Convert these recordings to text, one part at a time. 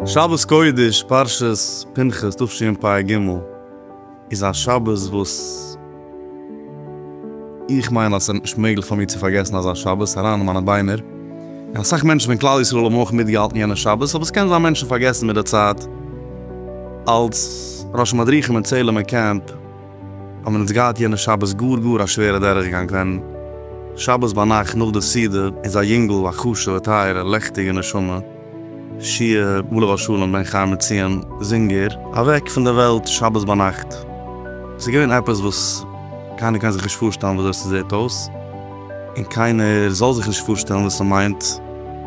שבת קודש פרשת פנחס תשפ ג איז א שבת וואס. איך מיין אז ס'איז נישט מעגליך פאר מיר צו פארגעסן אזא שבת אריין אין מיינע ביינער, און אסאך מענטשן פון כלל ישראל האבן אויך מיטגעהאלטן יענע שבת, אבער ס'קען זיין מענטשן פארגעסן מיט די צייט. אלס ראשי מדריכים אין צעהלימער קעמפ האבן אונז געהאט יענע שבת גאר גאר א שווערע דורכגאנג ווען שבת ביינאכט נאך די סעודה איז א יונגל א חשוב'ע טייערע לעכטיגע נשמה, שיעור בא לבית שלום בן חיים מציון זינגער אוועק פון די וועלט שבת ביינאכט. עס איז געווען עפעס וואס קיינער קען זיך נישט פארשטעלן ווי אזוי עס זעט אויס, און קיינער זאל זיך נישט פארשטעלן וואס עס מיינט,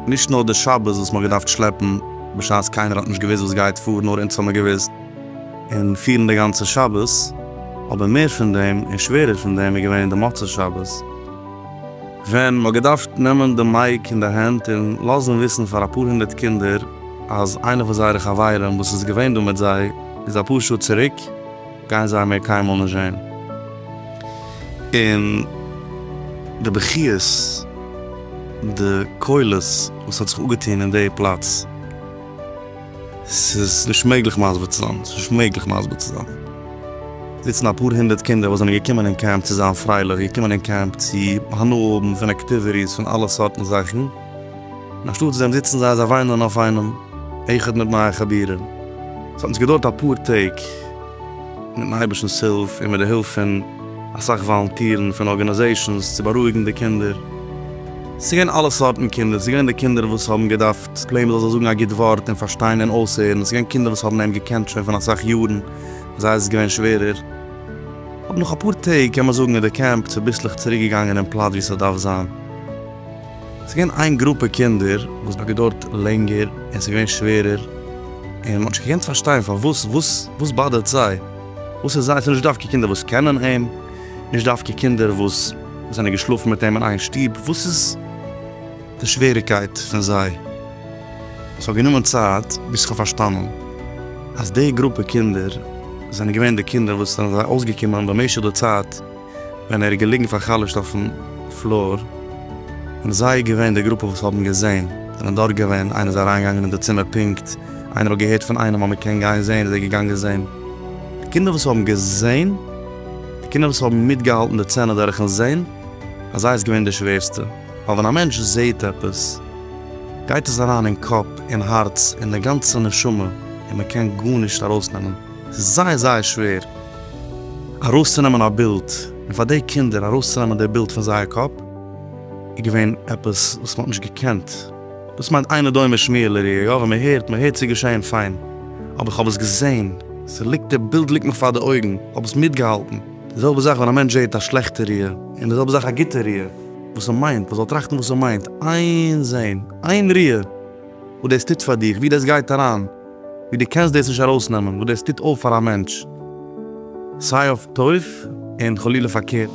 נישט נאר די שבת וואס מען האט געדארפט שלעפן בשעת קיינער האט נישט געוואוסט וואס גייט פאר, נאר אונז האט מען געוואוסט, און פירן די גאנצע שבת, אבער מער פון דעם און שווערער פון דעם איז געווען די מוצאי שבת. ווען מ'האט געדארפט נעמען די מייק אין די הענט און לאזן וויסן פאר אפאר הונדערט קינדער אז איינע פון זייערע חברים וואס איז געווען דא מיט זיי איז אפאר שעה צוריק גייען זיי מער קיינמאל נישט זען און די בכיות די קולות וואס האט זיך אפגעטון אין די פלאץ. ס'איז נישט מעגליך מסביר צו זיין. ס'איז נישט מעגליך מסביר צו זיין. זיצן אפאר הונדערט קינדער וואס זענען געקומען אין קעמפ צו זיין פרייליך, געקומען אין קעמפ צו הנאה האבן פון אקטיוויטיס, פון אלע סארטן זאכן, און אנשטאט דעם זיצן זיי אזוי וויינען אויף איינעם, איחוד מיט נייע חבירים. ס'האט אונז געדויערט אפאר טעג, מיטן אייבערשטנ'ס הילף און מיט די הילף פון אסאך וואלונטירן פון ארגאניזעישאנס, צו בארואיגן די קינדער. ס'איז געווען אלע סארטן קינדער, ס'איז געווען די קינדער וואס האבן געדארפט ס'פלעין וויל זיי זאגן א גוט ווארט און פארשטיין און אויסהערן. ס'געווען קינדער וואס האבן אים געקענט שוין פון אסאך יארן, ביי זיי איז עס געווען שווערער. אבער נאך אפאר טעג קען מען זאגן איז די קעמפ צוביסלעך צוריק געגאנגען אין פלאץ ווי ס'דארף זיין. ס'געווען איין גרופע קינדער וואס האט געדוירט לענגער און ס'געווען שווערער, און מ'האט נישט געקענט פארשטיין פארוואס, וואס וואס באדערט זיי, וואס איז זיי, ס'איז נישט דווקא קינדער וואס קענען אים, נישט דווקא קינדער וואס זענען געשלאפן מיט אים אין איין שטוב, וואס איז. די שוועריקייט פון זיי. עס האט גענומען צייט ביז איך האב פארשטאנען אז די גרופע קינדער זענען געווען די קינדער וואס זענען זיי אויסגעקומען במשך די צייט ווען ער איז געליגן פאר'חלש'ט אויפן פלאר, און זיי איז געווען די גרופע וואס האבן געזען, זענען דארט געווען, איינער איז אריינגעגאנגען אין די צימער פונקט, איינער האט געהערט פון איינעם אז מען קען גיין זען איז ער געגאנגען זען. די קינדער וואס האבן געזען, די קינדער וואס האבן מיטגעהאלטן די צענע דורכן זען, ביי זיי איז געווען די שווערסטע. ווייל ווען א מענטש זעהט עפעס גייט עס אריין אין קאפ, אין הארץ, אין די גאנצע נשמה, און מען קען גארנישט ארויסנעמען, ס'איז זייער זייער שווער ארויסצונעמען א בילד, און פאר די קינדער ארויסצונעמען די בילד פון זייער קאפ איז געווען עפעס וואס מען האט נישט געקענט, דאס מיינט אינו דומה שמיעה לראייה, יא ווען מען הערט, מען הערט ס'איז געשעהן פיין, אבער איך האב עס געזעהן, ס'ליגט די בילד ליגט מיך פאר די אויגן, איך האב עס מיטגעהאלטן, די זעלבע זאך ווען א מענטש זעהט א שלעכטע ראייה, און די זעלבע זאך א גוטע ראייה. וואס ער מיינט, ער זאל טראכטן וואס ער מיינט, איין זעהן, איין ריאה, וואס דאס טוט פאר דיך, ווי דאס גייט אריין, ווי דו קענסט דאס נישט ארויסנעמען, וואס דאס טוט אויף פאר א מענטש, סיי אויף טוב און חלילה פארקערט.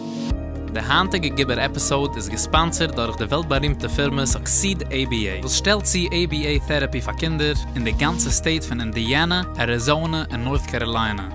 די היינטיגע גיבור עפיסאוד איז געספאנסערד דורך די וועלט בארימטע פירמע סוקסיד עי בי עי וואס שטעלט צו עי בי עי טעראפי פאר קינדער אין די גאנצע סטעיט פון אינדיאנא, אריזאנע און נארט קאראליינע.